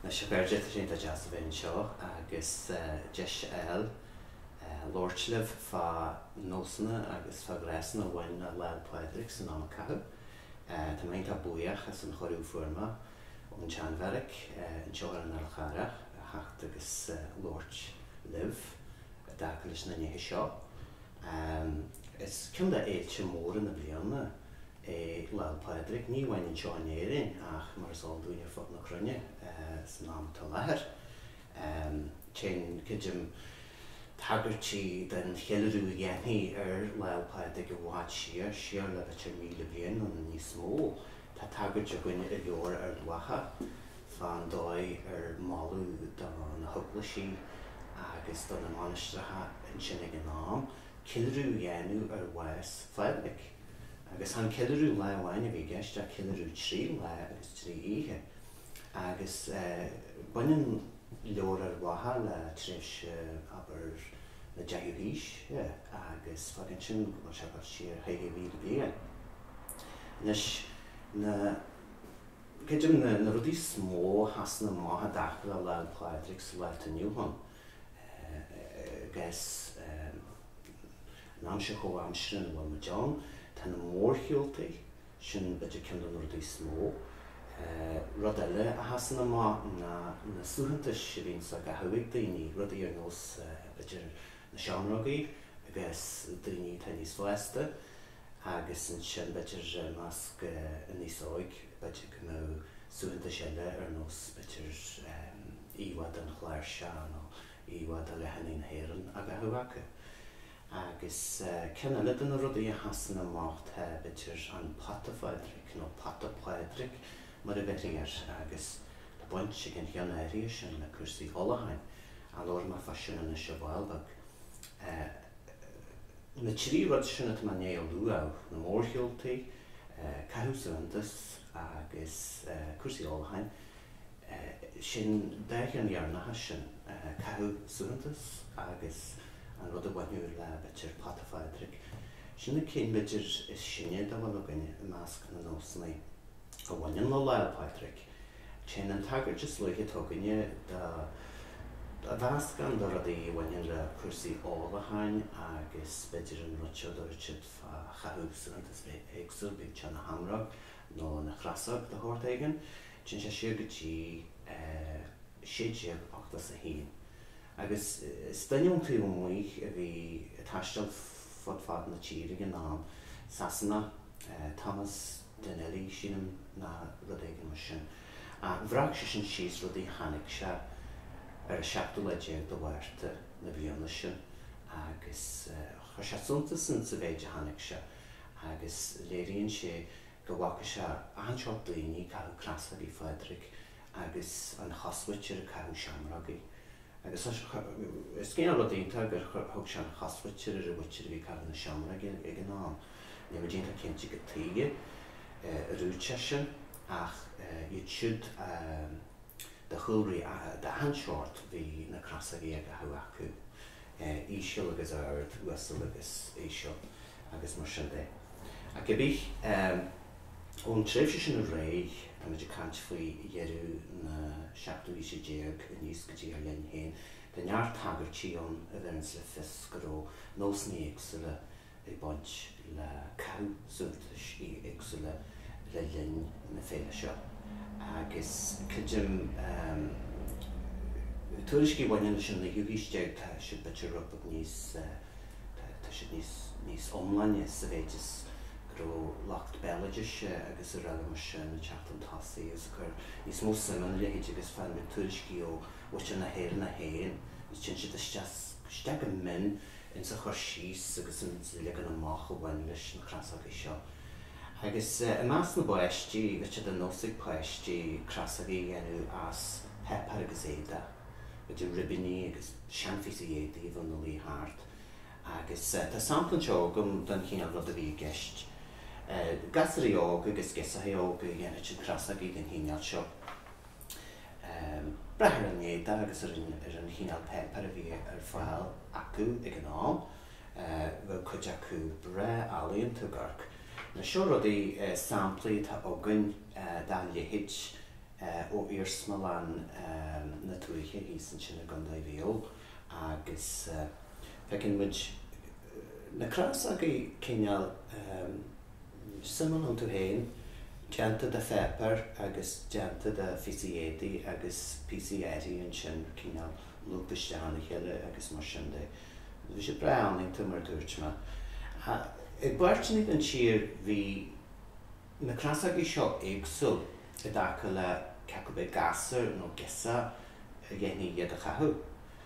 Anois a chairde, tá sé iontach deas a bheith anseo agus deis a fháil labhairt libh fá nósanna agus fá ghnásanna a bhain le Lá 'le Pádraig san am a caitheadh. Tá mé iontach buíoch as an chuireadh a fuair mé ón tSean-Bheairic anseo ar an Fhál Charrach a theacht agus labhairt libh i dtaca leis na nithe seo. Ámh, is ceann de fhéilte móra na bliana é Lá'l Pádraig, ní amháin anseo in Éirinn ach mar is eol dúinn ar fud na cruinne san am atá i láthair. Téann cuid de na tagairtí den cheiliúradh a dhéanfaí ar Lá'l Pádraig i bhfad siar, siar le b'fhéidir 1000 bliain nó níos mó. Tá tagairt againn i Leabhar Ard Mhacha, Fán dóigh ar moladh do na heaglaisí agus do na mainistreacha ansin ag an am, ceiliúradh a dhéanamh ar bhás Phádraig. Agus chan ceiliúradh lá amháin a bhí i gceist ach ceiliúradh trí lá agus trí oíche. Agus baineann Leabhar Ard Mhacha le tréimhse, abair, na deichiú haoise agus fágann sin go bhfuil sé ag dul siar 1000 bliain. Anois, na. Cuid de na rudaí is mó a sheasann amach i dtaca le Lá 'le Pádraig sa lá atá inniu ann, agus an aimsir chomhaimseartha ina bhfuil muid ann, tá na mórshiúltaí, sin b'fhéidir ceann de na rudaí is mó. Rud eile a sheasann amach ná na suaitheantais a bhíonns á gcaitheamh ag daoine, rudaí ar nós b'fhéidir na seamrógaí agus daoine atá níos fásta. agus ansin b'fhéidir i measc an aosa óig b'fhéidir go mbeadh suaitheantais eile ar nós b'fhéidir íomhá den chláirseach nó íomhá de dhathannaí na hÉireann á gcaitheamh acu. Agus ceann eile de na rudaí a sheasann amach tá b'fhéidir an Pota Phádraig nó Pota Pádraig mar a bheirtí air agus tá baint ag an cheann áirithe sin le cúrsaí ólacháin, a labharfaidh mé fá sin anois ar ball beag. Na trí rud sin atá mé i ndiaidh a lua, na mórshiúltaí, caitheamh suaitheantas agus cúrsaí ólacháin, sin dá cheann dheireanacha sin, caitheamh suaitheantas agus an rud a bhainfeadh le b'fhéidir Pota Phádraig, sin na cinn b'fhéidir is sine dá bhfuil againn i measc na nósanna. a bhaineann le Lá Fhéile Pádraig. Téann an tagairt is luaithe atá againne do mheascán de rudaí a bhaineann le cúrsaí ólacháin agus b'fhéidir an rud a dúirt siad fá chaitheamh suaitheantas éagsúil, bíodh sé ina sheamróg nó ina chrosóg de shórt éigin. Téann sé siar go dtí 1681 agus is duine ón taobh amuigh a bhí ag taisteal fud fad na tíre ag an am, Sasanach, Thomas, Dineley, sílim, nó rud éigin mar sin. Bhreac sé sin síos rudaí a chonaic sé ar an seachtú lá déag de Mhárta na bliana sin agus chuir sé suntas in sa mhéid a chonaic sé agus léiríonn sé go bhfaca sé achan seort daoine ag caitheamh crosógaí Phádraig agus an chosmhuintir ag caitheamh seamrógaí agus is cineál rud iontach gur thug sé an chosmhuintir ar an mhuintir a bhí ag caitheamh na seamróige ag an am. Níl muid iontach cinnte cad chuige ar dhúirt sé sin, ach iad siúd de chúlraí d'achan seort bhí na crosógaí á gcaitheamh acu, íseal agus ard, uasal agus íseal, agus mar sin de. Ach cibé ar bith, ón tréimhse sin ar aghaidh, tá muid ag caint faoi dheireadh na seachtú haoise déag aníos go dtí ár linn féin, tá neart tagairtí ann a bheireanns le fios go raibh nósanna éagsúla ag baint le caitheamh suaitheantais éagsúla le linn na féile seo agus creidim tuairiscí a bhaineann leis an naoú haois déag tá siad b'fhéidir rud beag níos tá siad níos níos iomláine sa mhéid is go raibh lucht béaloidis agus araile mar sin ag teacht chun tosaigh agus ag cur níos mó suim ina leithéid agus faigheann muid tuairiscí ó mhuintir na hÉireann a théann is téann siad isteach isteach go mion ins an chur síos agus ins an leagan amach a bhain leis na crosógaí seo. Agus i measc na bpáistí, bheadh sé de nós ag páistí crosógaí a dhéanamh as páipeár agus éadach, idir ribíní agus seanphíosaí éadaigh a bheadh ina luí thart. Agus tá sampla anseo agam den chineál rud a bhí i gceist. Gasúraí óga agus girseacha óga a dhéanfadh crosógaí den chineál seo. brath ar an éadach agus ar an chineál páipéir a bhí ar fáil acu ag an am, bheadh cuid acu breá ealaíonta ag amharc. Seo rudaí, samplaí atá againn dá leithéid ó iarsmalann na tuaithe thíos ansin i gCondae Mhaigh Eo agus feiceann muid na crosógaí cineál, suim iontu féin, déanta de pháipéar agus déanta de phíosaí éadaí agus píosaí éadaí ansin, cineál lúbtha isteach ina chéile agus mar sin de. Bhí siad breá ealaíonta mar a dúirt mé. I bpáirteanna den tír bhí na crosógaí seo éagsúil i dtaca le cé acu ab é gasúr nó girseach a dhéanfadh iad a chaitheamh.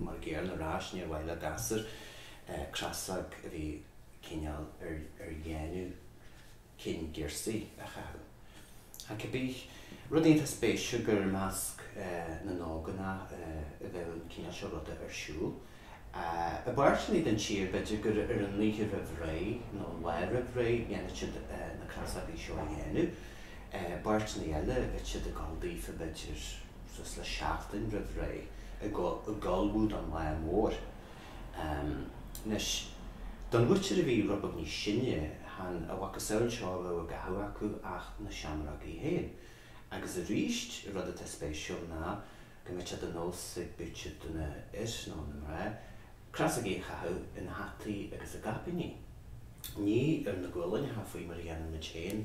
Mar dar ndóigh ar ais níor mhaith le gasúr crosóg a bhí cineál ar dhéanamh cinn girsí a chaitheamh. Ach cibé rud iontach spéisiúil gur i measc na n-ógánach a bheadh an cineál seo ruda ar siúl. I bpáirteanna den tír, b'fhéidir gur ar an oíche roimh ré nó an lá roimh ré a dhéanfadh siad na crosógaí seo a dhéanamh. I bpáirteanna eile, bheadh siad ag dul daofa, b'fhéidir. suas le seachtain roimh ré ag ullmhú don lá mór. Anois, don mhuintir a bhí rud beag níos sine, chan a mhacasamhail seo a bhí á gcaitheamh acu ach na seamrógaí féin. Agus arís, an rud atá spéisiúil ná go mbíodh sé de nós ag b'fhéidir na fir, nó na mná, crosógaí a chaitheamh ina hataí agus ina gcaipíní. Ní ar na guailneacha faoi mar a dhéanaimid féin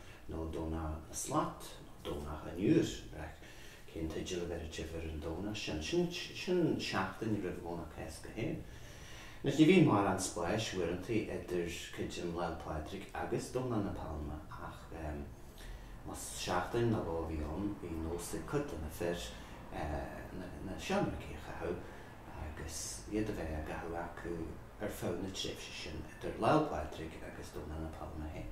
nó Domhnach na Slat, nó Domhnach an Iúir, ag brath cén teideal a bheirtear ar an Domhnach sin. Sin seachtain roimh Dhomhnach Cásca féin. Anois, ní bhíonn mórán spáis, uaireantaí, idir titim Lá'l Pádraig agus Domhnach na Pailme, ach más seachtain nó dhó a bhí ann, bhí nós ag cuid de na fir na seamrógaí a chaitheamh, agus iad a bheith á gcaitheamh acu ar feadh na tréimhse sin idir Lá'l Pádraig agus Domhnach na Pailme féin.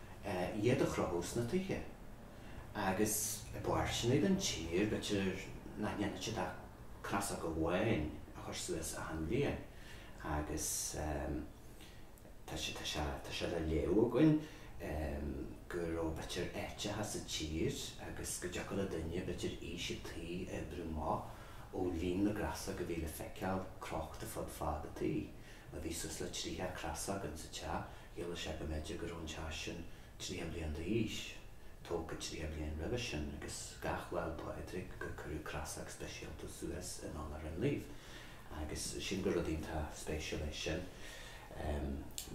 iad a chrochadh sna tithe agus i bpáirteanna den tír, b'fhéidir nach ndéanfadh siad ach crosóg amháin a chur suas achan bhliain agus tá sé, tá sé, tá sé le léamh againn go raibh, b'fhéidir, áiteacha sa tír agus go dtiocfadh le duine, b'fhéidir, aois an tí a oibriú amach ó líon na gcrosóg a bhí le feiceáil crochta fud fad an tí. má bhí suas le tríocha crosóg insa teach, chiallódh sé go mb'fhéidir go raibh an teach sin tríocha bliain d'aois, tógtha tríocha bliain roimhe sin, agus gach Lá'l Pádraig gur cuireadh crosóg speisialta suas in onóir an naoimh. Agus sílim gur rud iontach spéisiúil é sin,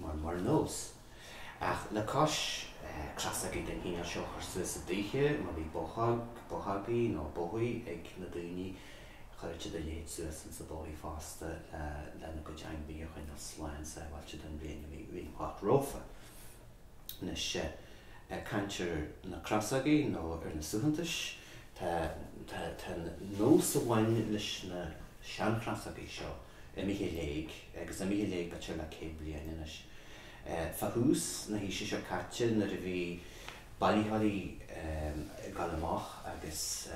mar mar nós. Ach le cois crosógaí den chineál seo a chur suas i dtithe, má bhí bothán, bothógaí nó bóithigh ag na daoine, Chuirfeadh siad a leithéid suas insna bóithigh fosta lena gcuid ainmhithe a choinneáil slán sábháilte don bhliain a bhí amach romhafa. Anois, ag caint ar na crosógaí nó ar na suaitheantais, tá, tá, tá nós a bhain leis na seanchrosógaí seo imithe i léig, agus imithe i léig b'fhéidir le céad bliain anois. Fá thús na haoise seo caite nuair a bhí. Bailitheoirí ag gabháil amach agus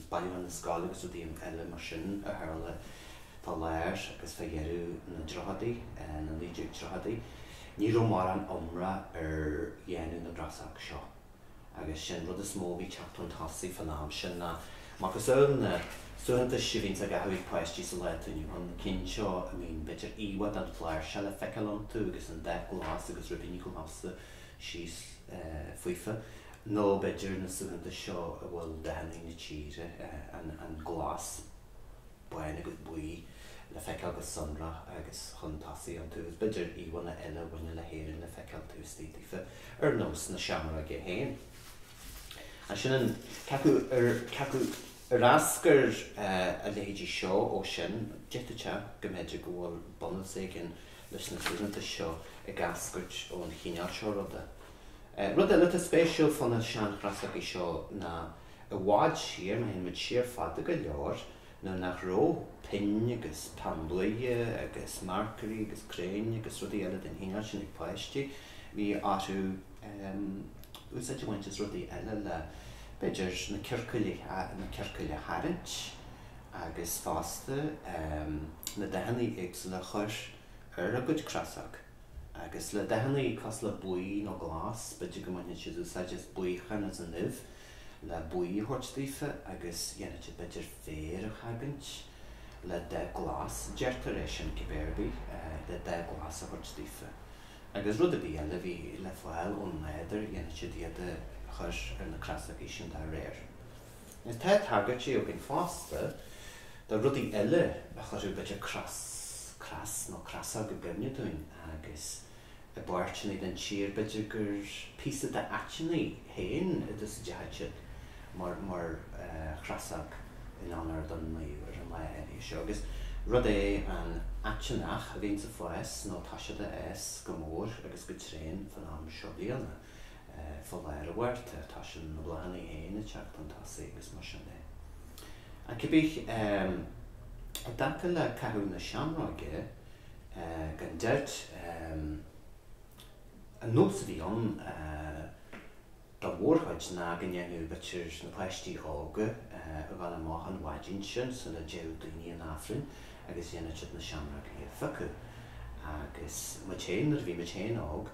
bailiúchán na scol agus rudaí eile mar sin a tharla fá lár agus fá dheireadh na dtríochaidí, na 1930idí. Ní raibh mórán iomrá ar dhéanamh na gcrosóg seo agus sé'n rud is mó a bhí teacht chun tosaigh fán am sin ná macasamhail na suaitheantais seo a bhíonns á gcaitheamh ag páistí sa lá atá inniu ann, na cinn seo b'fhéidir íomhá den chláirseach le feiceáil iontu agus an dath glas agus ribíní glasa. síos faofa, nó b'fhéidir na suaitheantais seo a bhfuil dathannaí na tíre, an glas, bán agus buí, le feiceáil go sonrach agus chun tosaigh iontu, agus b'fhéidir íomhánna eile a bhaineann le hÉirinn le feiceáil taobh istigh daofa, ar nós na seamróige féin. Ansin, an cé acu ar eascair a leithéidí seo ó sin? D'fhéadfadh go mb'fhéidir go bhfuil bunús éigin leis na suaitheantais seo ag eascairt ón chineál seo ruda. Rud eile atá spéisiúil fá na seanchrosógaí seo ná, i bhfad siar, má théann muid siar fada go leor, nuair nach rabh pinn agus peann luaidhe agus marcairí agus criáin agus rudaí eile den chineál sin ag páistí, bhí orthu úsáid a bhaint as rudaí eile le, b'fhéidir, na ciorcail a tharraingt. agus fosta na dathannaí éagsúla a chur ar a gcuid crosóg, agus le dathannaí cosúil le buí nó glas, b'fhéidir go mbainfeadh siad úsáid as buíochán as an uibh le buí a thabhairt daofa agus dhéanfadh siad b'fhéidir féar a chogaint le dath glas, deirtear é sin cibé ar bith, le dath glas a thabhairt daofa. Agus rud ar bith eile a bhí le fáil ón nádúr dhéanfadh siad iad a chur ar na crosógaí sin dá réir. Is tá tagairtí againn fosta do rudaí eile a chuirfeadh b'fhéidir cros nó crosóg i gcuimhne dúinn agus i bpáirteanna den tír b'fhéidir gur píosa den aiteannaigh féin a d'úsáideadh siad mar chrosóg in onóir don naomh ar an lá áirithe seo agus rud é an aiteannach a bhíonns ag fás nó tá siad ag fás go mór agus go tréan fán am seo bliana. fá láthair, abair, tá sin na bláthanna féin ag teacht chun tosaigh agus mar sin de. Ach cibé, i dtaca le caitheamh na seamróige, gan dabht, an nós a bhí ann dá mhórchuid ná go ndéanadh b'fhéidir na páistí óga a ghabháil amach an mhaidin sin sula dtéadh daoine chun Aifrinn agus dhéanfadh siad na seamrógaí a phiocadh. Agus muid féin, nuair a bhí muid féin óg,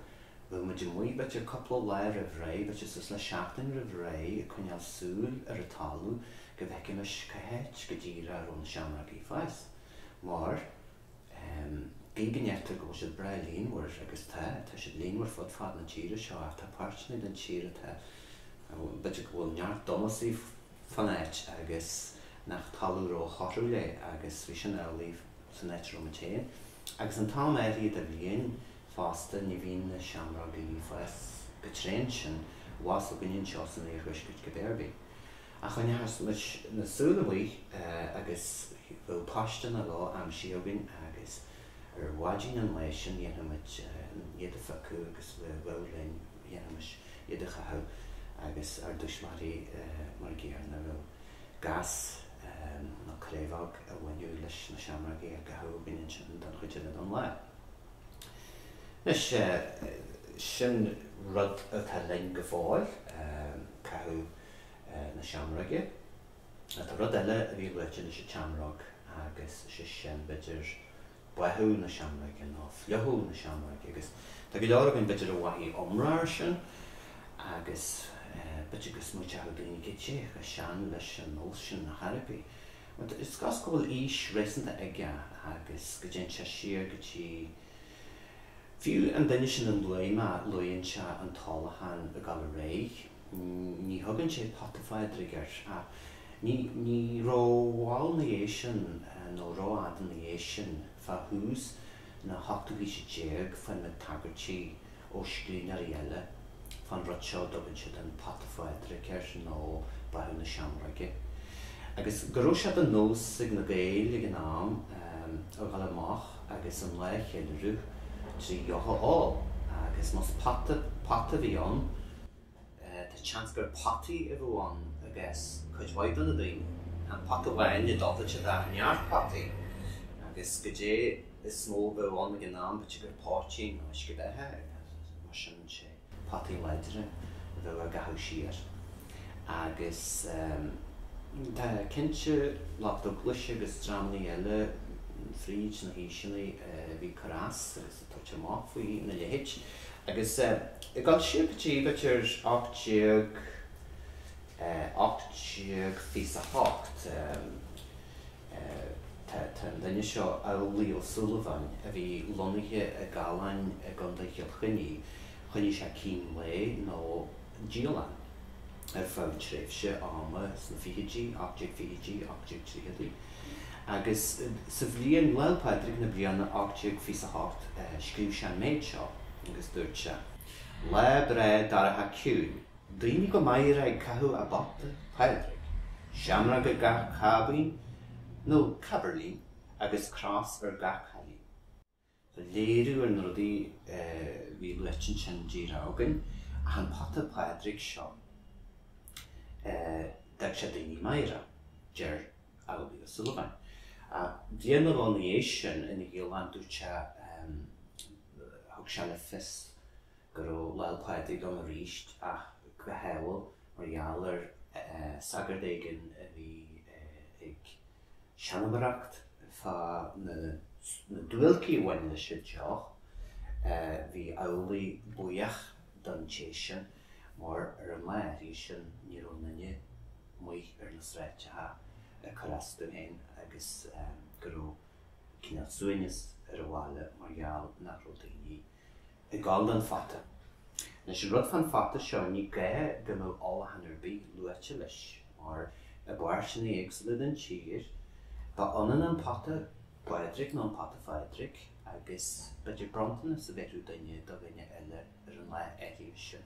Bheadh muid amuigh b'fhéidir cupla lá roimh ré, b'fhéidir suas le seachtain roimh ré, ag coinneáil súil ar an talamh go bhfeicfimis cá háit go díreach a raibh na seamrógaí ag fás? Mar, em, gidh go ndeirtear go bhfuil siad breá líonmhar, agus tá, tá siad líonmhar fud fad na tíre seo, ach tá páirteanna den tír atá, em, b'fhéidir go bhfuil neart domasaí fan áit agus nach talamh ró-thorthúil é agus bhí sin amhlaidh san áit a raibh muid féin. Agus an t-am áirithe de bhliain, Fosta, ní bhíonn na seamrógaí ag fás go tréan sin abhus againn anseo san iarthuaiscirt cibé ar bith. Ach choinneochadh muidne súil amuigh agus bheadh paiste nó dhó aimsithe againn agus ar mhaidin an lae sin dhéanfadh muid iad a phiocadh agus bheadh linn, dhéanfaimis iad a chaitheamh agus ár dtuismitheoirí mar a gcéanna, bheadh gas nó craobhóg a bhainfeadh leis na seamrógaí á gcaitheamh againn ansin don chuid eile den lá. Anois, sin rud atá linn go fóill, caitheamh na seamróige. Tá rud eile a bhí luaite leis an tseamróg agus sé sin, b'fhéidir, báthadh na seamróige nó fliuchadh na seamróige agus tá go leor againn, b'fhéidir, a mhoithigh iomrá ar sin agus b'fhéidir go smaoiteodh daoine goidé chomh sean leis an nós sin na hEorpaí. Mar tá fhios agat go bhfuil aois réasúnta aige agus go dtéann sé siar go dtí fiú an duine sin Dineley mar luann sé an t-ólachán ag gabháil ar aghaidh. Ní thugann sé pota Phádraig air ach ní rómhall 'na dhiaidh sin, nó rófhada 'na dhiaidh sin, fá thús, na hochtú haoise déag faigheann muid tagairtí ó scríbhneoirí eile fán rud seo, a dtugann siad an Pota Phádraig air, nó Báthadh na Seamróige, agus go raibh sé de nós ag na Gaeil ag an am a dhul amach agus an lá a cheiliúradh trí dheoch a ól, agus más pota a bhí ann, Tá seans gur potaí a bheadh ann i gcás cuid mhaith de na daoine. Tá an pota amháin i dtollait i dtaobh neart potaí, agus goidé is mó a bheadh ann ag an am, b'fhéidir gur poitín nó uisce beatha, mar sin sé potaí láidre a bheadh á gcaitheamh siar. Agus tá cinnte lucht eaglaise agus dreamannaí eile fríd na haoiseanna a bhí ag cur as. tá sé amach faoi na leithéid. Agus ag dul siar go dtí, b'fhéidir, ocht déag eh, ocht déag fiche is a hocht, eh, tá an duine seo, Amhlaoibh Ó Súilleabháin, a bhí lonnaithe i gCallainn i gCondae Chill Chainnigh, choinnigh sé cín lae nó, dialann ar feadh tréimhse ama sna fichidí, 1820idí, 1830idí, agus sa bhliain Lá 'le Pádraig na bliana 1828 scríobh sé an méid seo agus dúirt sé. Lá breá dorcha ciúin, daoine go meidhreach ag caitheamh a bpota Pádraig, seamróg ar gach cáibín, nó cáibirlín, agus cros ar gach cailín. léiriú ar na rudaí a bhí luaite ansin díreach againn ach an pota Pádraig seo. D'fhág sé daoine meidhreach, deir Amhlaoibh Ó Súilleabháin. Bliain nó dhó ina dhiaidh sin ina dhialann dúirt sé Thug sé le fios go raibh Lá'l Pádraig ann arís ach go hádhúil mar gheall ar shagart éigin a bhí ag seanmóireacht fá na duáilcí a bhain leis an deoch, bhí Amhlaoibh buíoch don té sin mar ar an lá áirithe sin ní raibh duine amuigh ar na sráideacha ag cur as dó féin agus go raibh cineál suaimhneas ar an bhaile mar gheall nach raibh daoine ag gabháil don phota. Anois, an rud fán phota seo, ní gá go mbeadh ólachán ar bith luaite leis, mar i bpáirteanna éagsúla den tír, ba ionann an pota Pádraig nó an pota Phádraig agus b'fhéidir bronntanas a bheadh ag duine do dhuine eile ar an lá áirithe sin.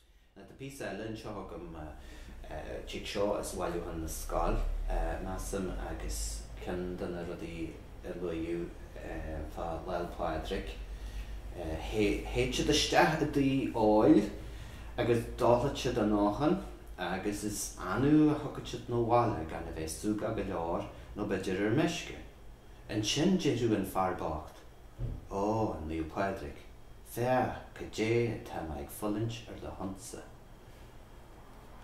Tá píosa eile anseo agam, tig seo as Bailiúchán na Scol, measaim, agus ceann de na rudaí a luaíodh fá Lá'l Pádraig, théid siad isteach i dtigh óil agus ólfaidh siad a ndóthain agus is annamh a thiocfadh siad 'na bhaile gan a bheith súgach go leor nó b'fhéidir ar meisce. Ansin déarfadh an fear bocht, Ó, a Naomh Pádraig, féach cad é atá mé ag fulaingt ar do shonsa.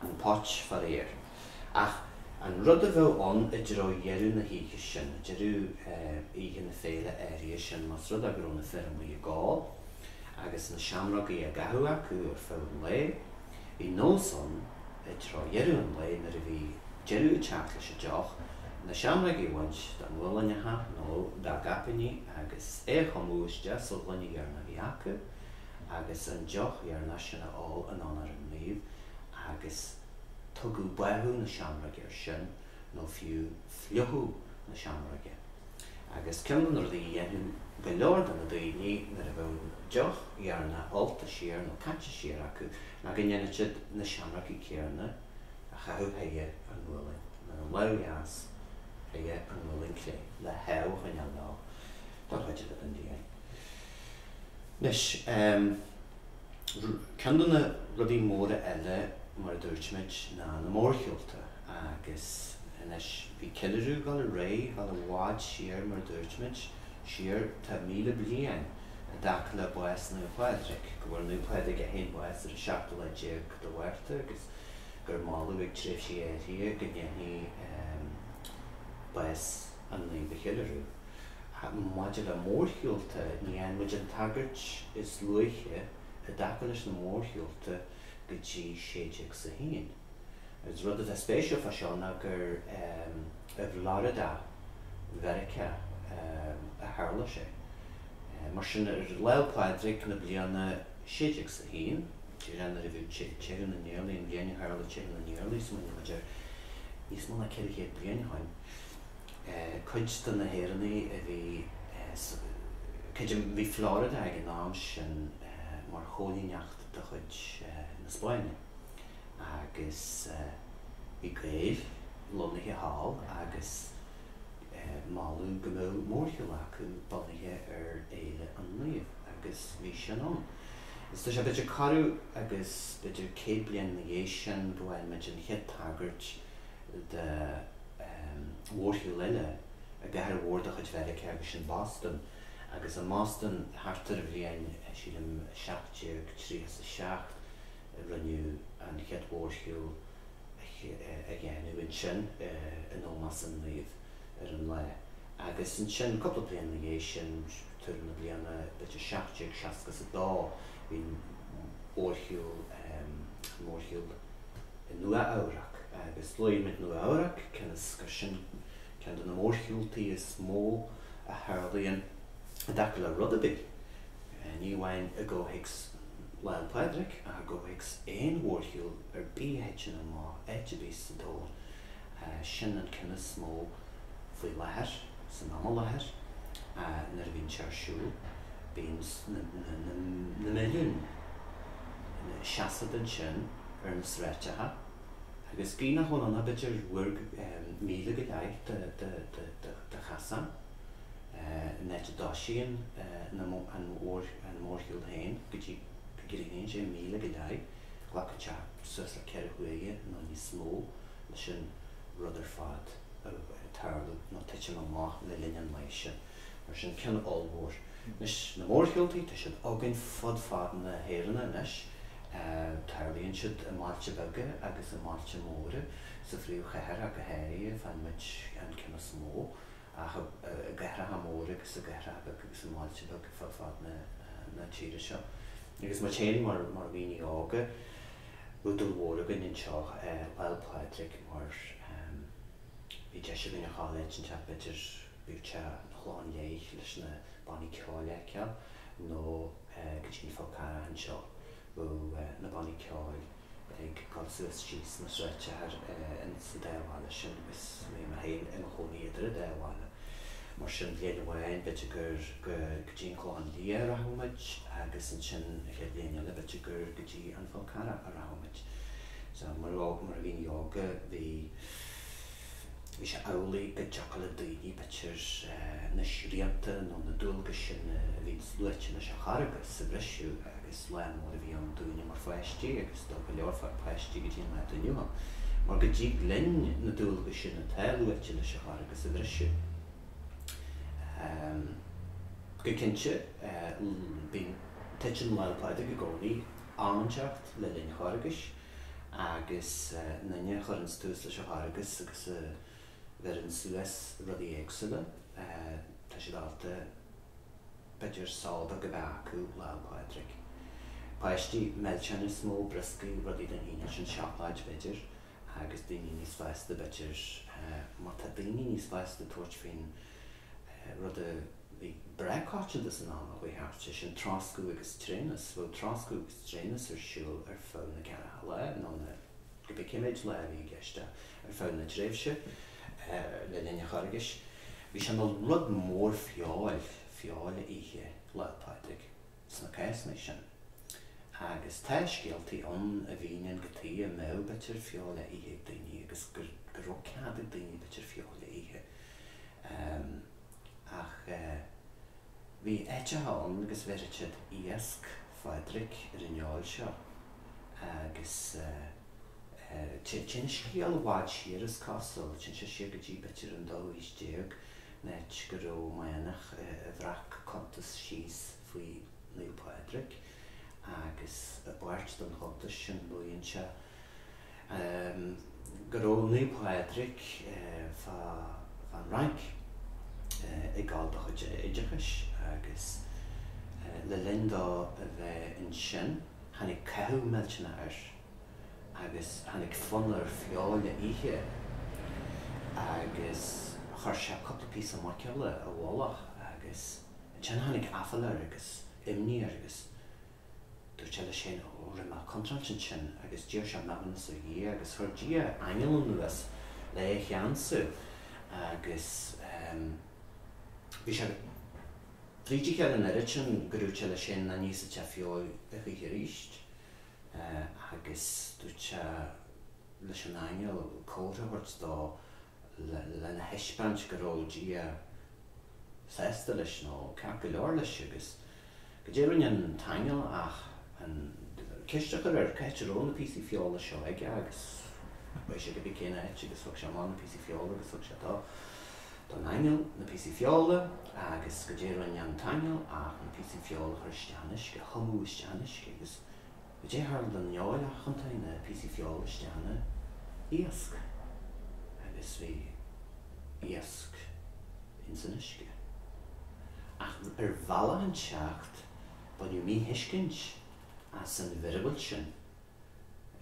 An phóit, faraor. Ach an rud a bheadh ann i dtreo dheireadh na hoíche sin, i deireadh oíche na féile áirithe sin, más rud é go raibh na fir amuigh ag ól agus na seamrógaí á gcaitheamh acu ar feadh an lae, Bhí nós ann i dtreo dheireadh an lae nuair a bhí deireadh ag teacht leis an deoch, na seamrógaí a bhaint dá nguailneacha nó dá gcaipíní agus iad a thumadh isteach sa ghloine dheireanach a bhí acu agus an deoch dheireanach sin a ól in onóir an naoimh agus tugadh báthadh na seamróige air sin. nó fiú fliuchú na seamróige, agus ceann de na rudaí a dhéanadh go leor de na daoine nuair a bheadh an deoch dheireanach ólta siar nó caite siar acu ná go ndéanfadh siad na seamróga céanna a chaitheamh chuig a ngualainn dheas, chuig a ngualainn chlé, le hádh a choinneáil leo don chuid eile den bhliain. Anois. Ceann de na rudaí móra eile, mar a dúirt muid, ná na mórshiúlta. Agus anois bhí ceiliúradh dul ar aghaidh, dul i bhfad siar, mar a dúirt muid, siar tá míle bliain i dtaca le bás Naomh Pádraig, go bhfuair Naomh Pádraig é féin bás ar an seachtú lá déag de Mhárta agus gur moladh ag tréimhsí áirithe go ndéanfaí bás an naoimh a cheiliúradh. Maidir le mórshiúlta, ní fhaigheann muid an tagairt is luaithe i dtaca leis na mórshiúlta go dtí 1601. Is rud atá spéisiúil fá seo ná gur i bhFlorida Mheiriceá a tharla sé. Mar sin, ar Lá'l Pádraig na bliana 1601, an t-am a bhí Teitheadh na nIarlaí, an bhliain a tharla Teitheadh na nIarlaí, smaoiníonn muid air níos mó ná ceithre chéad bliain ó shoin. Cuid de na hÉireannaigh a bhí sa, cuid de, bhí Florida ag an am sin mar choilíneacht de chuid na Spáinne agus bhí Gaeil lonnaithe thall agus moladh go mbeadh mórshiúl acu bunaithe ar Fhéile an Naoimh agus bhí sin ann. Agus tá sé b'fhéidir corradh agus b'fhéidir céad bliain ina dhiaidh sin go bhfaighimid an chéad tagairt de mhórshiúl eile i gcathair mhór de chuid Mheiriceá, agus sin Boston. Agus i mBoston, thart ar an bhliain, sílim, 1737, rinneadh an chéad mhórshiúl a dhéanamh ansin in ómós an naoimh ar an lá. Agus ansin, cúpla bliain ina dhiaidh sin, tuairim na bliana, b'fhéidir, 1762, bhí an mórshiúl, an mórshiúl. i Nua-Eabhrac. Agus luaimid Nua-Eabhrac, cionn is gur sin ceann de na mórshiúltaí is mó a tharlaíonn i dtaca le rud ar bith, ní amháin i gcomhthéacs Lá 'le Pádraig ach i gcomhthéacs aon mhórshiúl ar bith a thiteann amach áit ar bith sa domhan, sin an ceann is mó faoi láthair, san am i láthair. Nuair a bhíonn sé ar siúl, bíonn na milliúin. seasamh ansin ar na sráideacha agus bíonn a dhul ann b'fhéidir bhuirg míle go leith de chasán ón áit a dtosaíonn an mórshiúl féin go dtí go gcríochnaíonn sé, míle go leith. Ghlacfadh sé suas le ceithre huaire nó níos mó leis an rud ar fad tarlú nó titim amach le linn an lae sin, mar sin, ceann ollmhór. Anois, na mórshiúltaí, tá siad againn fud fad na hÉireann anois. Tarlaíonn siad i mbailte beaga agus i mbailte móra. Sa phríomhchathair, ach go háirithe, faigheann muid an ceann is mó, ach i gcathracha móra agus i gcathracha beaga agus i mbailte beaga fud fad na tíre seo. Agus muid féin mar dhaoine óga, údair mhór againn anseo, Lá'l Pádraig mar. Bhí deis againn a ghabháil áit inteacht b'fhéidir bíodh sé 'na Chlocháin Léith leis na bannaí ceoil a fheiceáil nó go dtí an Fál Carrach anseo bheadh na bannaí ceoil ag gabháil suas síos na sráideacha sa dá bhaile sin agus bhí mé féin i mo chónaí idir an dá bhaile. Mar sin bhliain amháin b'fhéidir gur go dtí an Clochán Liath a rachadh muid agus ansin an chéad bhliain eile b'fhéidir gur go dtí an Fál Carrach a rachadh muid. Mar dhaoine óga bhí Bhí sé amhlaidh go dtiocfadh le daoine b'fhéidir na srianta nó na dualgais sin a bhí luaite leis an Charghas a bhriseadh agus lá mór a bhí ann dúinne mar pháistí agus do go leor fad páistí go dtí an lá inniu ann. Mar go dtig linn na dualgais sin atá luaite leis an Charghas a bhriseadh. Go cinnte, bíonn, titeann Lá 'le Pádraig i gcónaí am inteacht le linn an Charghais. agus aon duine a chuireanns tús leis an Charghas agus a bheireann suas rudaí éagsúla, tá siad ábalta, b'fhéidir, só beag a bheith acu Lá 'le Pádraig. Páistí, milseáin is mó, brioscaí, rudaí den chineál sin, seacláid, b'fhéidir, agus daoine níos fásta, b'fhéidir, má tá daoine níos fásta ag tabhairt faoin rud a Bhí breá coitianta san am a chuaigh thart, sé sin troscadh agus tréanas, bhuel, troscadh agus tréanas ar siúl ar feadh na gceathracha lá, nó cibé cá mhéad lá a bhí i gceist ann, ar feadh na tréimhse le linn an Charghais. Bhí sé ina rud mór feoil, feoil a ithe Lá Pádraig sna cásanna sin. Agus tá scéaltaí ann a mhíníonn cad chuige a mbeadh b'fhéidir feoil á ithe ag daoine agus go raibh cead ag daoine b'fhéidir feoil a ithe. Ach bhí áiteacha ann agus bheireadh siad iasc Phádraig ar an fheoil seo agus téann scéal i bhfad siar, is cosúil, téann sé siar go dtí b'fhéidir an dóú haois déag, áit go raibh manach a bhreac cuntas síos faoi Naomh Pádraig agus i bpáirt den chuntas sin maíonn sé. Ehm, go raibh Naomh Pádraig fán Fhrainc ag gabháil dá chuid oideachais agus le linn dó a bheith ansin tháinig cathú millteanach air agus tháinig fonn air feoil a ithe agus chuir sé cúpla píosa muiceola i bhfolach agus ansin tháinig aiféala air agus imní air agus Dúirt sé leis féin, Ó, rinne mé contráilte ansin, agus d'iarr sé maithiúnas ó Dhia, agus chuir Dia aingeal anuas le é a cheansú, agus bhí sé fríd a chéile an oiread sin gur dhúirt sé leis féin nach n-íosfadh sé feoil a choíche arís. Agus dúirt sé leis an aingeal comhartha a thabhairt dó lena thaispeáint go raibh Dia sásta leis, nó ceart go leor leis, agus. Goidé a rinne an t-aingeal ach an ceist a chur air cé áit a raibh na píosaí feola seo aige agus chuaigh sé cibé cén áit agus thug sé amach na píosaí feola agus thug sé don aingeal na píosaí feola agus goidé a rinne an t-aingeal ach na píosaí feola a chur isteach in uisce, a thumadh isteach in uisce agus Goidé a tharla don fheoil ach thiontaigh na píosaí feola isteach ina iasc agus bhí iasc ins an uisce. Ach ar bhealach inteacht baineadh míthuiscint as an mhiorúilt sin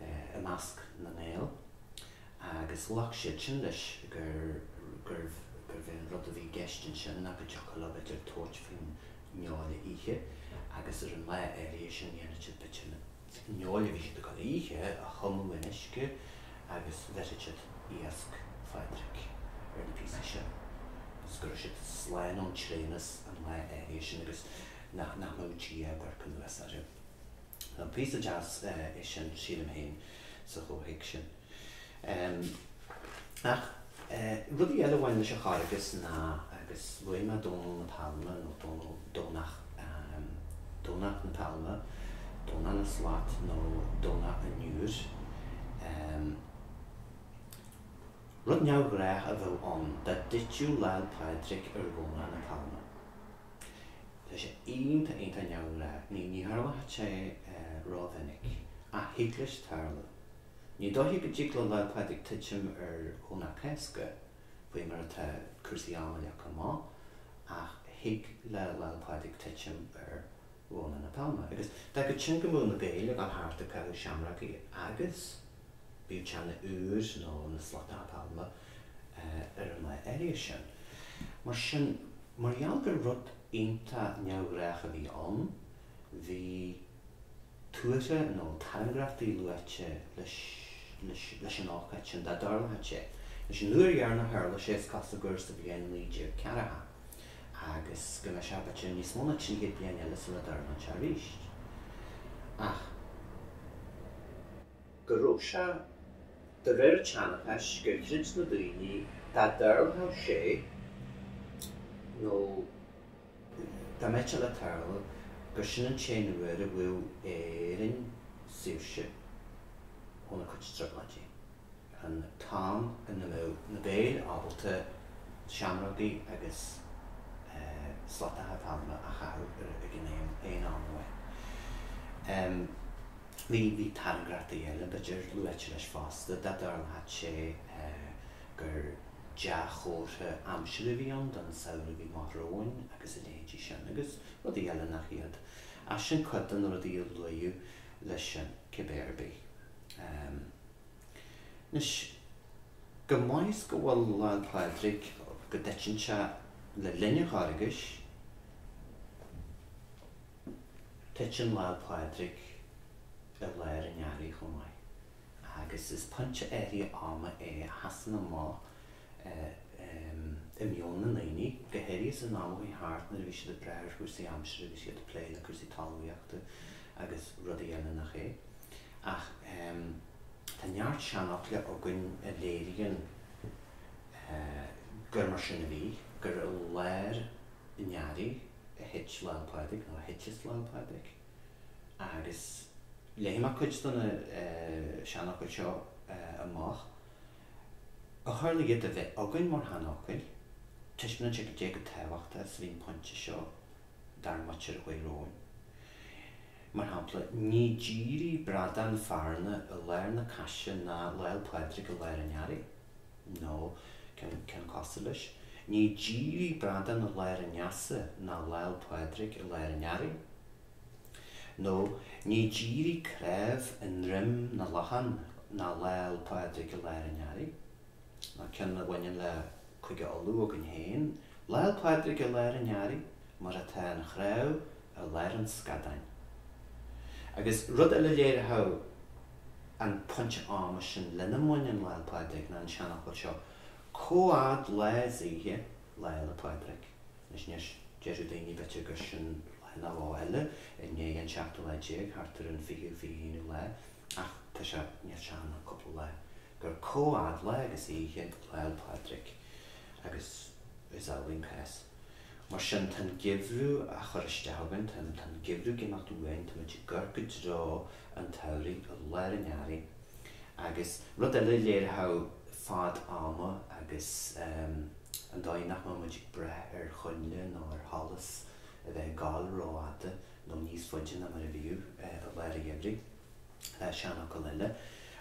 i measc na nGael agus ghlac siadsan leis gurbh é an rud a bhí i gceist ansin ná go dtiocfadh leo bheith ag tabhairt faoin fheoil a ithe agus ar an lá áirithe sin dhéanadh siad b'fhéidir an fheoil a bhí siad ag gabháil a ithe a thumadh in uisce agus bheireadh siad iasc Phadraig ar na píosaí sin agus go raibh siad slán ón tréanas an lá áirithe sin agus nach nach mbeadh Dia ag amharc anuas orthu. Píosa deas é sin sílim féin sa chomhthéacs sin. Ach rudaí eile a bhain leis an Charghas ná, agus luaigh mé Dónall na Pailme, nó Dónall, Domhnach, Domhnach na Pailme, Domhnach na Slat nó Domhnach an Iúir, rud neamhghnách a bheadh ann dá dtitfeadh Lá'l Pádraig ar Dhomhnach na Pailme. Tá sé iontach, iontach neamhghnách. Ní tharlaíonn sé rómhinic, ach thig leis tarlú. Ní dóiche go dtig le Lá 'le Pádraig titim ar Dhomhnach Cásca faoi mar atá cúrsaí ama leagtha amach, ach thig le Lá 'le Pádraig titim ar Dhomhnach na Pailme. Agus d'fhágfadh sin go mbeadh na Gaeil ag dul thart ag caitheamh seamrógaí agus biteanna iúir nó na slata pailme ar an lá áirithe sin. Mar sin, mar gheall gur rud iontach neamhghnách a bhí ann, bhí. tuartha nó tairngreachtaí luaite leis an ócáid sin, dá dtarlódh sé. Agus an uair dheireanach a tharla sé, is cosúil gur sa bhliain 1940, agus go mbeidh sé b'fhéidir níos mó ná trí chéad bliain eile sula dtarlóidh sé arís. Ach. go raibh sé, de réir an tseanchais, gur chreid na daoine, dá dtarlódh sé, nó. Dá mbeadh sé le tarlú gur sin an t-aon uair a bhfaigheadh Éirinn saoirse óna cuid trioblóidí, an t-am ina mbeadh na Gaeil ábalta seamrógaí agus slatacha pailme a chaitheamh ag an aon am amháin. Bhí tairngreachtaí eile, b'fhéidir, luaite leis fosta, dá dtarlódh sé. gur dea-chomhartha aimsire a bhí ann don samhradh a bhí amach romhainn agus a leithéidí sin, agus rudaí eile nach iad. Ach sin cuid de na rudaí a luaíodh leis sin, cibé ar bith. Anois, chomh maith is go bhfuil Lá 'le Pádraig, go dtiteann sé le linn an Charghais, titeann Lá 'le Pádraig i lár an earraigh chomh maith. Agus is pointe áirithe ama é a sheasann amach i meon na ndaoine, go háirithe san am a chuaigh thart nuair a bhí siad ag brath ar chúrsaí aimsire bhí siad ag plé le cúrsaí talmhaíochta agus rudaí eile nach é. Ach tá neart seanfhocla againn a léiríonn gur mar sin a bhí, gur i lár an earraigh a thit Lá'l Pádraig, nó a thiteas Lá'l Pádraig. agus léifidh mé cuid de na seanfhocail seo amach, ó tharla iad a bheith againn mar sheanfhocail, taispeánann sé cad é chomh tábhachtach is a bhí an pointe seo dár muintir a chuaigh romhainn. Mar shampla, ní dírí bradán fearna i lár na caise ná Lá'l Pádraig i lár an earraigh. Nó, ceann cosúil leis? Ní dírí bradán i lár an easa ná Lá'l Pádraig i lár an earraigh. Nó, ní dírí cnámh i ndroim na lachan ná Lá'l Pádraig i lár an earraigh. Nó, ceann a bhaineann le Cúige Uladh againn féin, Lá'l Pádraig i lár an earraigh, mar atá an chnámh i lár an scadáin. Agus rud eile léiritheach. an pointe ama sin lena mbaineann Lá 'le Pádraig ná an seanfhocal seo, Comhfhad lá 's oíche, Lá 'le Pádraig. Anois, déarfadh daoine, b'fhéidir, gur sin lá nó dhó eile, i ndiaidh an seachtú lá déag, thart ar an fichiú, fiche haonú lá, ach tá sé níos sean ná cúpla lá, gur comhfhad lá agus oíche, Lá 'le Pádraig. Agus is álainn, pass. Mar sin, tá an geimhreadh á chur isteach againn, tá an geimhreadh ag imeacht uainn, tá muid ag gabháil i dtreo an tsamhraidh, i lár an earraigh. Agus rud eile a léireodh fad ama agus an dóigh nach mbeadh muid ag brath ar choinnle nó ar sholas a bheith ag gabháil rófhada nó níos faide ná mar a bhíodh i lár an gheimhridh, ná seanfhocal eile.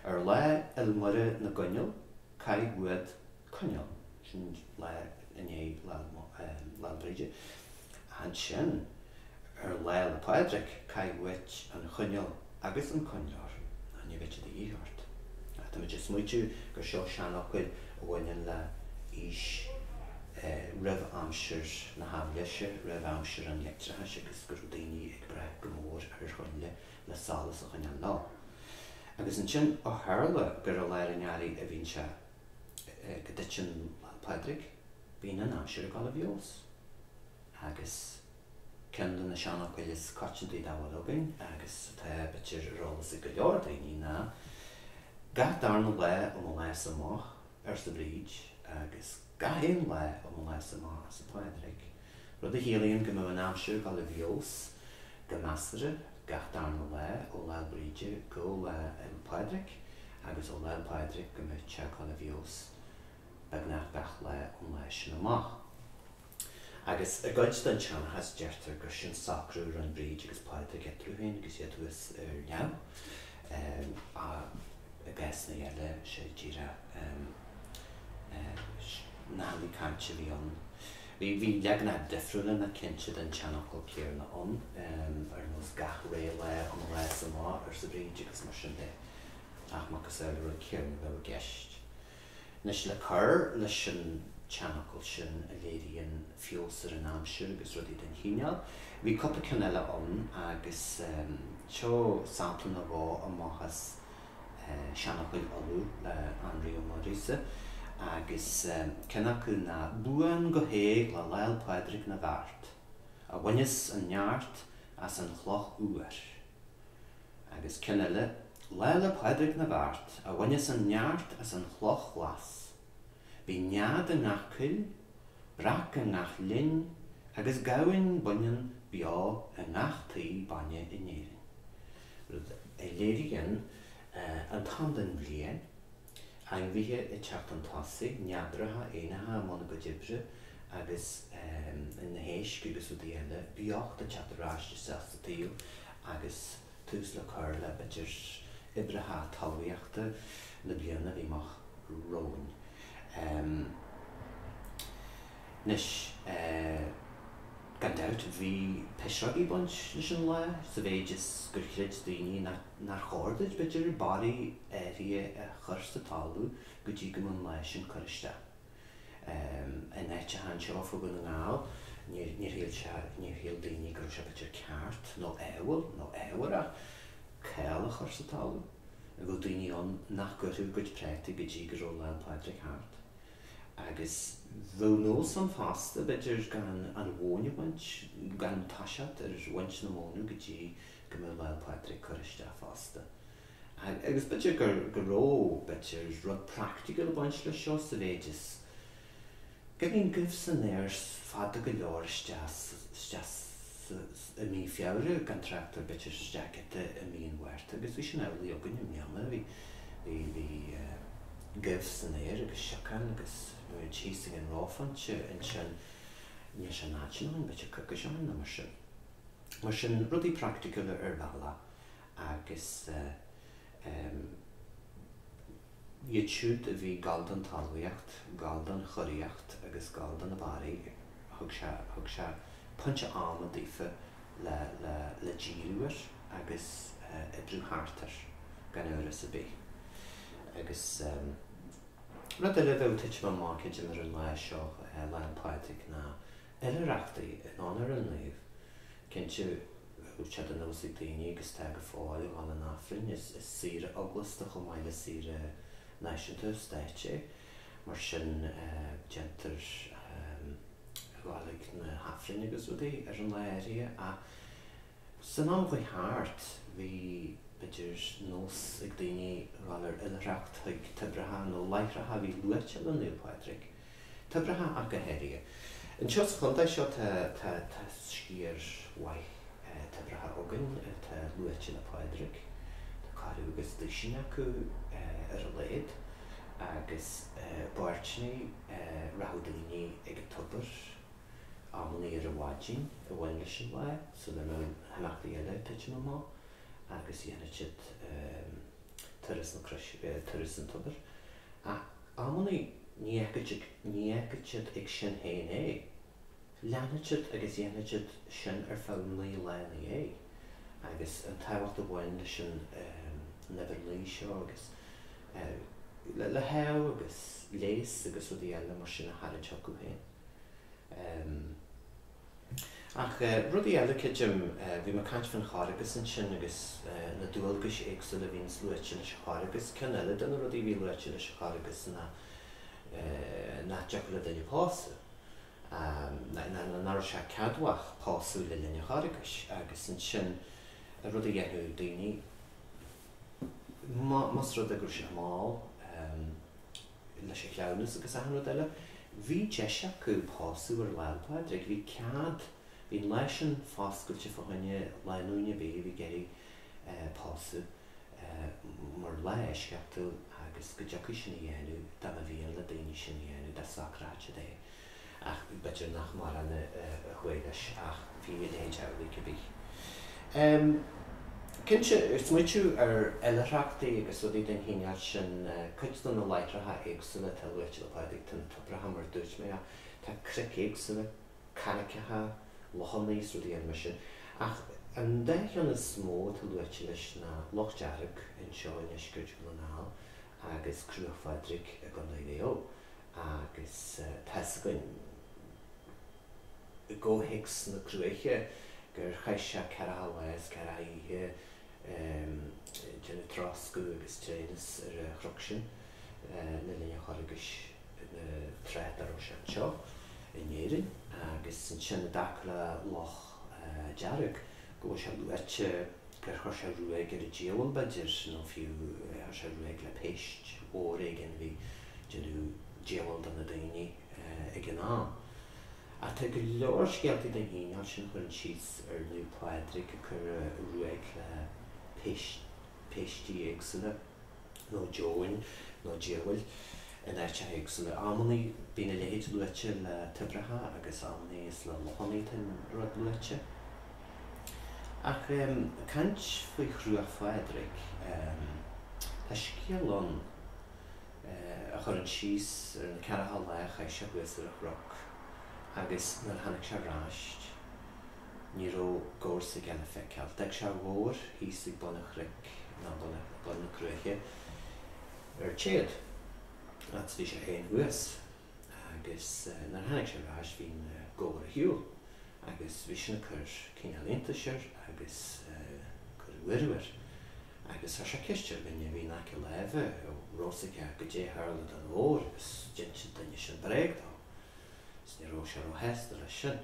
Ar Lá Fhéile Muire na gCoinneal, caith uait. coinneal. Sin lá i ndiaidh Lá 'le Bríde. Ach ansin, ar Lá 'le Pádraig, caith uait an choinneal agus an coinnleoir, nó ní bheidh siad de dhíth ort. Ach tá muid ag smaoitiú gur seo seanfhocail a bhaineann le aois roimh aimsir na haibhléise, roimh aimsir an leictreachais agus go raibh daoine ag brath go mór ar choinnle le solas a choinneáil leo. Agus ansin, ó tharla gur i lár an earraigh a bhíonn sé, go dtiteann Pádraig, bíonn an aimsir ag dul i bhfeabhas agus ceann de na seanfhocail is coitianta dá bhfuil againn agus atá b'fhéidir ar eolas ag go leor daoine ná gach darna lá ó mo lá-sa amach, arsa Bríd, agus gach aon lá ó mo lá-sa amach, arsa Pádraig. Rud a chiallaíonn go mbeidh an aimsir ag dul i bhfeabhas go measartha gach darna lá ó Lá Bríde go Lá 'le Pádraig agus ó Lá 'le Pádraig go mbeidh sé ag dul i bhfeabhas beagnach gach lá ón lá sin amach. Agus i gcuid den tseanchas deirtear gur sin socrú a rinn Bríd agus Pádraig eatarthu féin agus iad thuas ar neamh, ach i gcásanna eile sé díreach nathannaí cainte a bhí ann. Bhí leaganacha difriúla ann cinnte den tseanfhocal céanna ann, ar nós 'gach re lá ó mo lá-sa amach', arsa Bríd, agus mar sin de, ach macasamhail an rud céanna a bheadh i gceist. Anois, le cur leis an tseanfhocal sin a léiríonn feabhas ar an aimsir agus rudaí den chineál, bhí cúpla ceann eile ann, agus seo sampla nó dhó amach as Seanfhocail Uladh le Énrí Ó Muirgheasa, agus ceann acu ná Buan go héag le Lá 'le Pádraig na bhFeart, a bhaineas an neart as an chloch fhuar. Agus ceann eile, Lá 'le Pádraig na bhFeart, a bhaineas an neart as an chloch ghlas. Bíonn nead i ngach coill, breac i ngach linn, agus gamhain baineann beo i ngach tigh bainne in Éirinn. rud a léiríonn an t-am den bhliain, ainmhithe ag teacht chun tosaigh, neadraithe, éanlaithe i mbun a gcuid oibre agus na héisc agus rudaí eile, beocht ag teacht ar ais isteach sa tsaol agus tús le cur le b'fhéidir oibreacha talmhaíochta na bliana a bhí amach romhainn. Anois. Gan dabht, bhí pisreogaí ag baint leis an lá, sa mhéid is gur chreid daoine nár chóir duit b'fhéidir barraí áirithe a chur sa talamh go dtí go mbeadh an lá sin curtha isteach. In áiteacha anseo fá Dhún na nGall, níor shíl daoine go raibh sé b'fhéidir ceart, nó ádhúil, nó ámharach, cál a chur sa talamh. Bheadh daoine ann nach gcuirfeadh a gcuid prátaí go dtí go raibh Lá 'le Pádraig thart. Agus bheadh nós ann fosta, b'fhéidir, gan an mhóin a bhaint, gan toiseacht ar bhaint na móna go dtí go mbeadh Lá'l Pádraig curtha isteach fosta. Agus b'fhéidir go raibh, b'fhéidir, rud praicticiúil ag baint leis seo sa mhéid is go mbíonn goimh san aer fada go leor isteach sa i mí Feabhra, gan trácht ar b'fhéidir isteach i mí an Mhárta, agus bhí sin amhlaidh againn i mbliana. Bhí, bhí, bhí eh goimh san aer agus siocán agus thíos faoin reophointe ansin, níl sé in áit sin amháin, b'fhéidir coicís ó shin nó mar sin. Mar sin, rudaí praiticiúla ar bhealach agus iad siúd a bhí ag gabháil don talmhaíocht, ag gabháil don churaíocht agus ag gabháil do na barraí, thug sé, thug sé pointe ama daofa le, le, le díriú air agus oibriú thart air, gan amhras ar bith. Agus rud eile a bheadh ag titim amach ar an lá seo, Lá 'le Pádraig, ná Oilithreachtaí in Onóir an Naoimh. Cinnte go raibh sé de nós ag daoine agus tá go fóill, a dhul chun an Aifrinn. Is saoire eaglasta chomh maith le saoire náisiúnta, stáit é. Mar sin déantar a dhul chuig na hAifrinn agus rudaí ar an lá áirithe. Ach. San am a chuaigh thart, bhí, b'fhéidir, nós ag daoine a dhul ar oilithreacht chuig toibreacha nó láithreacha a bhí luaite le Naomh Pádraig, toibreacha ach go háirithe. Anseo sa chontae seo tá, tá, tá sciar mhaith toibreacha againn atá luaite le Pádraig. Tá ceathrú agus duisín acu ar a laghad agus b'fhéidir nuair a rachadh daoine chuig an tobar. Amannaí ar an mhaidin a bhain leis an lá, sula raibh na himeachtaí eile ag titim amach, agus dhéanfadh siad Turas an Tobair, ach amannaí ní fhágfadh siad ag sin féin é. Leanfadh siad agus dhéanfadh siad sin ar feadh naoi lá ina dhiaidh, agus an tábhacht a bhain leis an n-uimhir naoi seo, agus le hádh agus leigheas agus rudaí eile mar sin a tharraingt chucu féin. Ach rudaí eile, creidim, bhí mé ag caint faoin Charghas ansin agus na dualgais éagsúla a bhíonns luaite leis an Charghas. Ceann eile de na rudaí a bhí luaite leis an Charghas ná nach dtiocfadh le duine pósadh, ná nach raibh sé ceadmhach pósadh le linn an Charghais, agus ansin rud a dhéanfadh daoine, más rud é go raibh siad mall, leis a chleamhnas agus achan rud eile. Bhí deis acu pósadh ar Lá 'le Pádraig. Bhí cead, bhí an lá sin foscailte fá choinne lánúine a bhí, bhí ag iarraidh pósadh mar lá eisceachtúil agus go dtiocfaí sin a dhéanamh dá mba mhian le daoine sin a dhéanamh, dá socraítí é. Ach b'fhéidir nach mórán a chuaigh leis ach bhí a leithéid amhlaidh, cibé. Cinnte, ag smaoitiú ar oilithreachtaí agus rudaí den chineál sin, cuid de na láithreacha éagsúla atá luaite le Pádraig, tá na toibreacha mar a dúirt mé, tá cnoic éagsúla, carraiceacha, lochannaí is rudaí eile mar sin. Ach an dá cheann is mó atá luaite leis ná Loch Dearg anseo i ndeisceart Dhún na nGall agus Cruach Phádraig i gCondae Mhaigh Eo. Agus tá 'fhios againn, i gcomhthéacs na cruaiche, gur chaith sé ceathracha lá is ceathracha oíche ag déanamh troscadh agus tréanas ar a chroc sin le linn a Charghais tráth dá raibh sé anseo in Éirinn. Agus ansin, i dtaca le Loch Dearg, go bhfuil sé luaite gur chuir sé ruaig ar an diabhal, b'fhéidir, nó fiú chuir sé ruaig le péist mhór éigin a bhí Déanamh díobháil do na daoine ag an am. Ach tá go leor scéaltaí den chineál sin a chuireann síos ar Naomh Pádraig ag cur ruaig le péistí éagsúla, nó deamhain, nó diabhail, in áiteacha éagsúla. Amannaí bíonn a leithéid luaite le toibreacha agus amannaí is le lochannaí atá an rud luaite. Ach caint faoi Chruach Phádraig, tá scéal ann. a chuireann síos ar na ceathracha lá a chaith sé thuas ar a chroc, agus nuair a tháinig sé ar ais, ní raibh gabhar s'aige le feiceáil. D'fhág sé a ghabhar thíos ag bun a chnoic, ná bun na cruaiche, ar téad, agus bhí sé féin thuas. Agus nuair a tháinig sé ar ais bhí an gabhar ar shiúl agus bhí sin ag cur cineál iontais air agus cur buaireamh air agus chuir sé ceist ar dhuine a bhí in aice láimhe an rabh fhios aige goidé tharla don ghabhar agus d'ins an duine sin bréag dó agus ní rabh sé róshásta leis sin.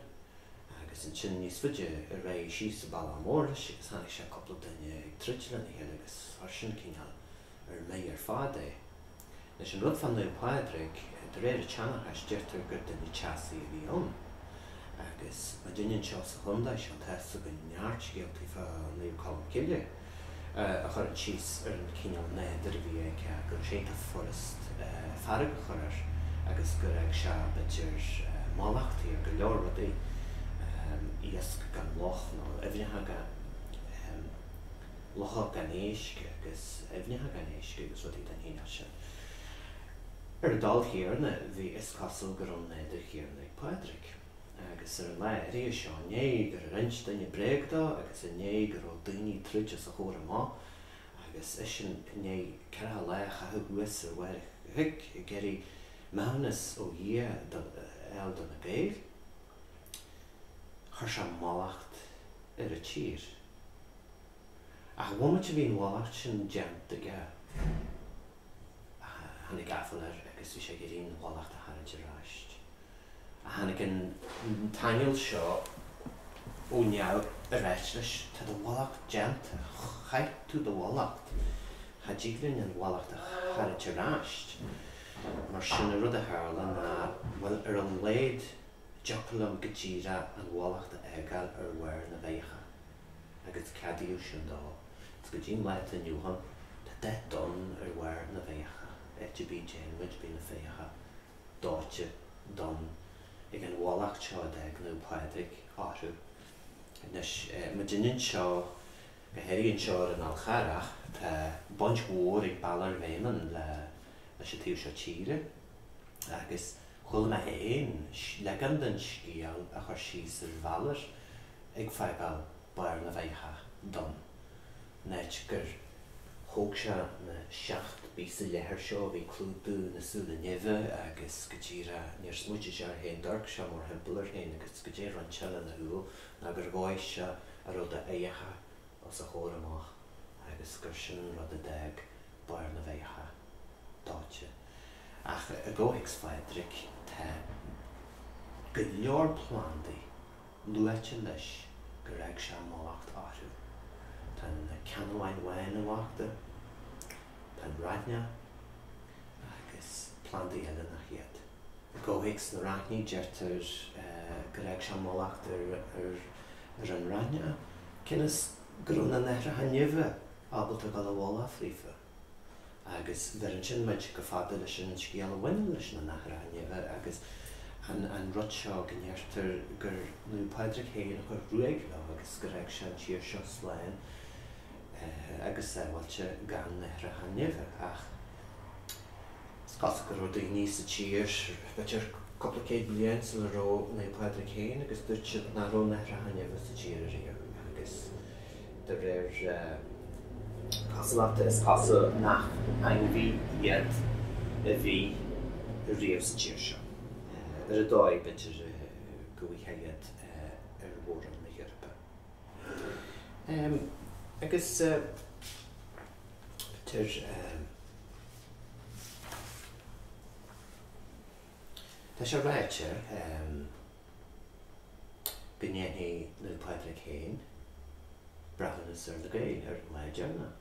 Agus ansin níos faide ar aghaidh síos an bealach mór leis agus tháinig sé cupla duine ag troid lena chéile agus chuir sin cineál ar mire ar fad é. Anois an rud fá Naomh Pádraig, de réir an tseanchais, deirtear gur duine teasaí a bhí ann. Agus muidinne anseo sa chontae seo, tá fhios againn neart scéaltaí fá Naomh Colm Cille a chuireann síos ar an chineál nádúir a bhí aige, go raibh sé iontach furast fearg a chur air agus gur fhág sé b'fhéidir mallachtaí ar go leor rudaí, iasc gan loch nó aibhneacha gan. locha gan éisc agus aibhneacha gan éisc agus rudaí den chineál sin. Ar an dul chéanna, bhí, is cosúil, go raibh an nádúir chéanna ag Pádraig. Agus ar an lá áirithe seo, i ndiaidh gur ins duine bréag dó agus i ndiaidh go raibh daoine ag troid os a chomhair amach agus eisean i ndiaidh ceathracha lá a chaitheamh thuas ar bharr an chnoic ag iarraidh maithiúnas ó Dhia a fháil do na Gaeil, chuir sé mallacht ar an tír. Ach an bhomaite a bhí an mhallacht sin déanta aige, tháinig aiféal air agus bhí sé ag iarraidh an mhallacht a tharraingt ar ais. Ach tháinig an t-aingeal seo ó neamh a ráit leis, 'Tá do mhallacht déanta, chaith tú do mhallacht, cha dtig linn an mhallacht a tharraingt ar ais. Mar sin, an rud a tharla ná, bhuel, ar a laghad, Dtiocfadh liom go díreach an mhallacht a fhágáil ar bharr na bhfeagacha, agus ceadaíodh sin dó, agus go dtí an lá atá inniu ann, tá dath donn ar bharr na bhfeagacha, áit ar bith a dtéann muid bíonn na feagacha dóite donn ag an mhallacht seo a d'fhág Naomh Pádraig orthu. Anois, muidinne anseo. Go háirithe anseo ar an Fhál Charrach, tá baint mhór ag Balor Béimeann leis an taobh seo tíre, agus chuala mé féin leagan den scéal a chuir síos ar Bhalor ag fágáil barr na bhfeagacha donn, an áit gur thóg sé na seacht bpíosa leathair seo a bhí ag clúdú na súile nimhe, agus go díreach níor smaoitigh sé air féin d'amharc sé mórthimpeall air féin, agus go díreach roinnt eile ina shúil. ná gur dhóigh sé a raibh d'fheagacha os a chomhair amach agus gur sin an rud a d'fhág barr na bhfeagacha dóite. Ach i gcomhthéacs Phádraig, tá go leor plandaí luaite leis gur fhág sé mallacht orthu. Tá na ceannabháin bhána mallachta, tá an raithneach agus plandaí eile nach iad. I gcomhthéacs na raithní, deirtear gur fhág sé mallacht ar an raithneach, cionn is go raibh na naithreacha nimhe ábalta gabháil i bhfolach fríofa. Agus bheireann sin muid chomh fada leis an scéal a bhaineann leis na naithreacha nimhe agus an rud seo go ndeirtear gur Naomh Pádraig féin a chuir ruaig leo agus gur fhág sé an tír seo slán agus sábháilte gan naithreacha nimhe. Ach. Is cosúil go raibh daoine sa tír b'fhéidir cúpla céad bliain sula raibh Naomh Pádraig féin agus dúirt siad nach raibh na naithreacha nimhe sa tír ariamh agus de réir cosúlachta is cosúil nach ainmhí iad a bhí riamh sa tír seo. Ar an dóigh b'fhéidir go bhfaighfeá iad ar mhór-roinn na hEorpa agus. Tá sé ráite go ndéanfaidh Naomh Pádraig féin breithiúnas ar na Gaeil ar an lá deireanach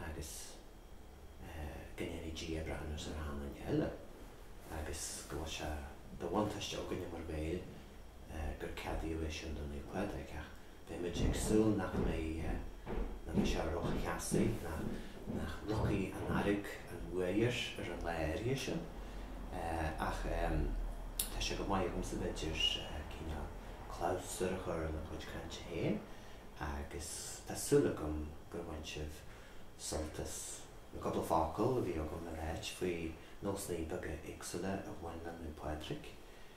agus go ndéanfaidh Dia breithiúnas ar achan duine eile agus go bhfuil sé de bhuntáiste againne mar Ghaeil gur ceadaíodh é sin do Naomh Pádraig ach Beimid ag súil nach mbeidh sé rótheasaí, ná nach rachaidh an fhearg an bhuaidh air ar an lá áirithe sin. Ach tá sé go maith agamsa b'fhéidir cineál clabhsúr a chur le mo chuid cainte féin, agus tá súil agam gur bhain sibh sult as na cúpla focal a bhí agam le ráit faoi nósanna beaga éagsúla a bhain le Naomh Pádraig.